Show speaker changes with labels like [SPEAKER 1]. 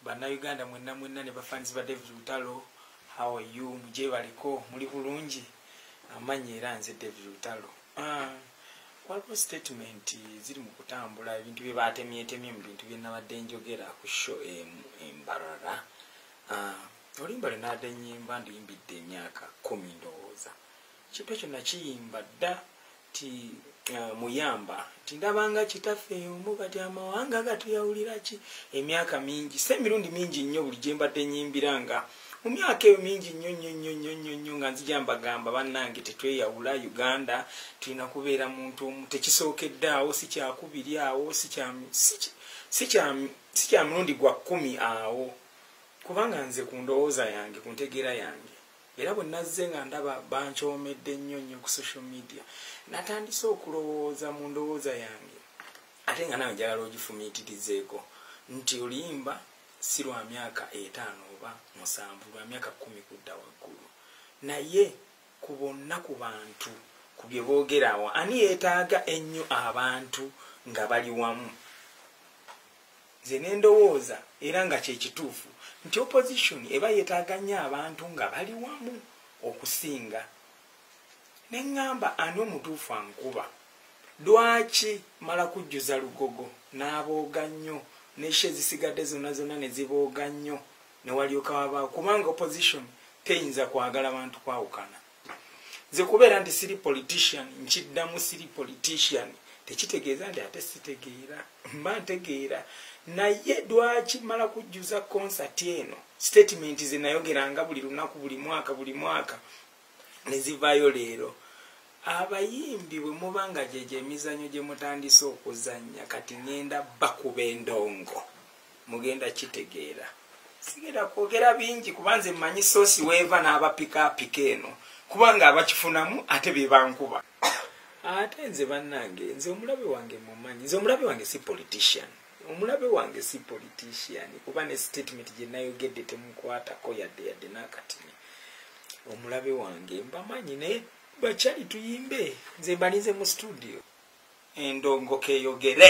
[SPEAKER 1] bannayuganda mwenna mwenna ne bafanizi ba david lutalo how are you mugyebaliko muli bulungi amanyi era nze david lutalo ah, waliwo statement ziri mu kutambula ebintu bye baatemyetemye mu bintu bye nabadde njogera ku sho embarara ah, olimba lwe naadde nyimba ndiyimbidde emyaka kumi ndowooza kintu ekyo nakiyimba dda ti uh, muyamba tindabanga kitaffe omu kati amawanga gatuyawulira ki emyaka mingi se emirundi mingi nnyo buli gye mbadde nyimbira nga mu myaka eyo mingi nnyo nnyo nnyo nnyo nnyo nnyo nga nzija mbagamba bannange tetweyawula uganda tulina kubeera muntu omu tekisookedde awo si kyakubiri awo si kya mulundi gwa kkumi awo kubanga nze ku ndowooza yange ku ntegeera yange era bwe nazze nga ndaba bankyomedde nnyo nnyo ku social media natandise okulowooza mu ndowooza yange ate nga nawe njagala ogifumiitirizeeko nti oluyimba si lwa myaka etaano oba musanvu lwa myaka kumi kudda waggulu naye ku bonna ku bantu ku bye boogeraawo ani yeetaaga ennyo abantu nga bali wamu nze nendowooza era nga kyekituufu nti opposition eba yetaaga nnyo abantu nga bali wamu okusinga ne ŋŋamba ani omutuufu ankuba lwaki mala kujjuza lugogo n'abooga nnyo nesha ezisigadde zonna zonna ne zibooga nnyo ne walyoka wabaawo kubanga opposition teyinza kwagala bantu kwawukana nze kubeera nti siri politician nkiddamu siri politician tekitegeeza nti ate sitegeera mba ntegeera naye dwaki mala kujjuza concert eno statement ze nayogeranga buli lunaku buli mwaka buli mwaka nezivaayo leero abayimbi bwe muba nga gyegyo emizanyo gye mutandise okuzannya kati ngenda bakuba endongo mugenda kitegeera sigenda kwogera bingi kuba nze mmanyi soosi weeva n'abapika apika eno kubanga abakifunamu ate be bankuba ate nze bannange nze omulabe wange mumanyi nze omulabe wange si politician omulabe wange si politician kuba ne statement gye nayogedde temukwatako yadde yadde n'akatini omulabe wange mbamanyi naye bakyali tuyimbe nze mbalinze mu studio endongo keyogere